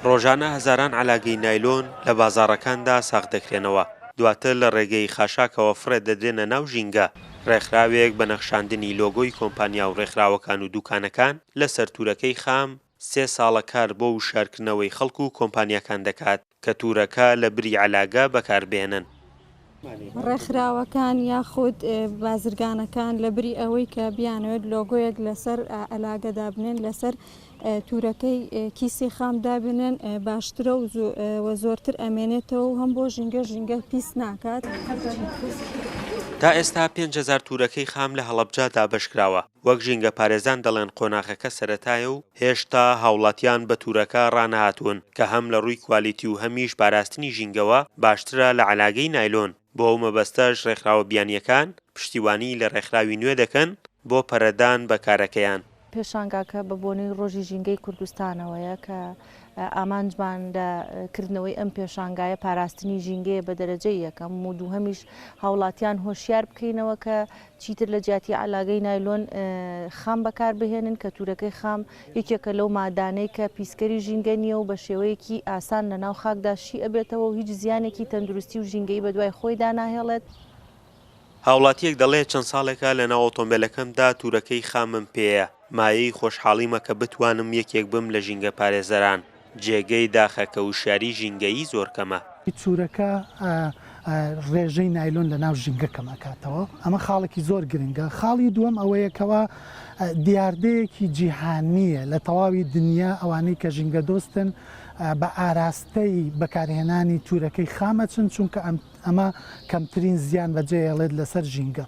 ڕۆژانە هەزاران عەلاگەی نایلۆن لە بازاڕەکاندا ساغ دەکرێنەوە، دواتر لە ڕێگەی خاشاکەوە فڕێ دەدرێنە ناو ژینگە، ڕێکخراوێک بە نەخشاندنی لۆگۆی کۆمپانیا و ڕێکخراوەکان و دوکانەکان لەسەر تورەکەی خام، سێ ساڵە کار بۆ وشیارکردنەوەی خەڵک و کۆمپانیاکان دەکات. کەتورەکە لە بری عەلاگە بەکار بهێنن. ڕێکخراوەکان یاخود بازرگانەکان لە بری ئەوەی کە بیانەوێت لۆگۆیەک لەسەر عەلاگە دابنێن لەسەر تورەکەی کیسی خام دابنێن باشترە و زۆرتر ئەمێنێتەوە و هەم بۆ ژینگە ژینگە پیس ناکات. تا ئێستا پێنج هەزار تورەکەی خام لە هەڵەبجە دابەشکراوە. وەک ژینگەپارێزان دەڵێن قۆناغەکە سەرەتایە و هێشتا هاوڵاتیان بە تورەکە ڕانەهاتوون کە هەم لە ڕووی کوالیتی و هەمیش پاراستنی ژینگەوە باشترە لە عەلاگەی نایلۆن، بۆ ئەو مەبەستەش ڕێکخراوە بیانییەکان پشتیوانی لە ڕێکخراوی نوێ دەکەن بۆ پەرەدان بە کارەکەیان. پێشانگاکە بە بۆنەی ڕۆژی ژینگەی کوردستانەوەیە کە ئامانجمان لە کردنەوەی ئەم پێشانگایە پاراستنی ژینگەیە بە دەرەجەی یەکەم و دووهەمیش هاوڵاتیان هۆشیار بکەینەوە کە چیتر لە جیاتی عەلاگەی نایلۆن خام بەکار بهێنن، کەتوورەکەی خام یەکێکە لەو مادانەی کە پیسکەری ژینگە نییە و بە شێوەیەکی ئاسان لە ناو خاکدا شی ئەبێتەوە و هیچ زیانێکی تەندروستی و ژینگەیی بە دوای خۆیدا ناهێڵێت. هاوڵاتییەک دەڵێت، چەند ساڵێکە لە ناو ئۆتۆمبێلەکەمدا توورەکەی خامم پێیە، مایەی خۆشحاڵیمە کە بتوانم یەکێک بم لە ژینگە پارێزەران. جێگەی داخە کە وشیاری ژینگەیی زۆر کەمە. چورەکە ڕێژەی نایلۆن لە ناو ژینگە کەم ئەکاتەوە ئەمە خاڵێکی زۆر گرنگە خاڵی دووەم ئەوەیە کەوا دیاردەیەکی جیهانیە لە تەواوی دنیا ئەوانەی کە ژینگە دۆستن بە ئاراستەی بەکارهێنانی تورەکەی خام ئەچن چونکە ئەمە کەمترین زیان بەجێ ئەڵێت لەسەر ژینگە.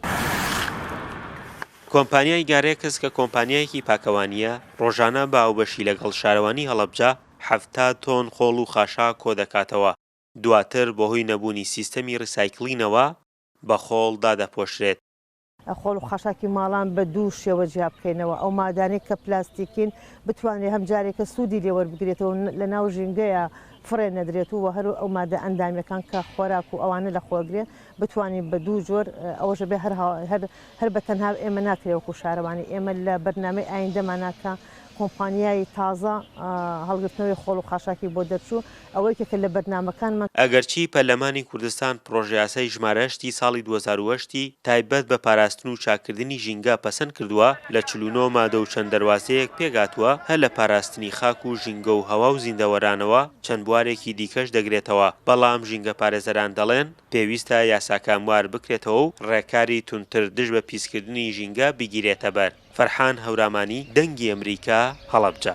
کۆمپانیای گارێکس کە کۆمپانیایەکی پاکەوانییە، ڕۆژانە بە هاوبەشی لەگەڵ شارەوانی هەڵەبجە حەفتا تۆن خۆڵ و خاشاک کۆدەکاتەوە، دواتر بەهۆی نەبوونی سیستەمی ڕیسایکڵینەوە بە خۆڵ دادەپۆشرێت. خۆڵ و خاشاکی ماڵان بە دوو شێوە جیا بکەینەوە، ئەو مادانەی کە پلاستیکین بتوانرێت هەم جارێکە سوودی لێ وەربگرێتەوە و لەناو ژینگەیا فڕێ نەدرێت و وە هەر ئەو مادە ئەندامییەکان کە خۆراک و ئەوانە لە خۆگرێ بتوانین بە دوو جۆر ئەوەش ئەبێ هەر هەر هەر بە تەنها ئێمە ناکرێ وەکو شارەوانی ئێمە لە بەرنامەی ئایندەمانە کە کۆمپانیای تازە هەڵگرتنەوەی خۆڵ و خاشاکی بۆ دەرچوو ئەوە یەکێکە لە بەرنامەکانمان. ئەگەرچی پەرلەمانی کوردستان پڕۆژەیاسای ژمارە هەشت ی ساڵی دوو هەزار و هەشت ی تایبەت بە پاراستن و چاککردنی ژینگە پەسەند کردووە، لە چل و نۆ مادە و چەند دەروازەیەک پێکهاتووە، هەر لە پاراستنی خاک و ژینگە و هەوا و زیندەوەرانەوە چەند بوارێکی دیکەش دەگرێتەوە، بەڵام ژینگەپارێزەران دەڵێن، پێویستە یاساکە موار بکرێتەوە و ڕێکاری توندتر دژ بە پیسکردنی ژینگە بگیرێتەبەر. فەرحان هەورامانی، دەنگی ئەمریکا، هەڵەبجە.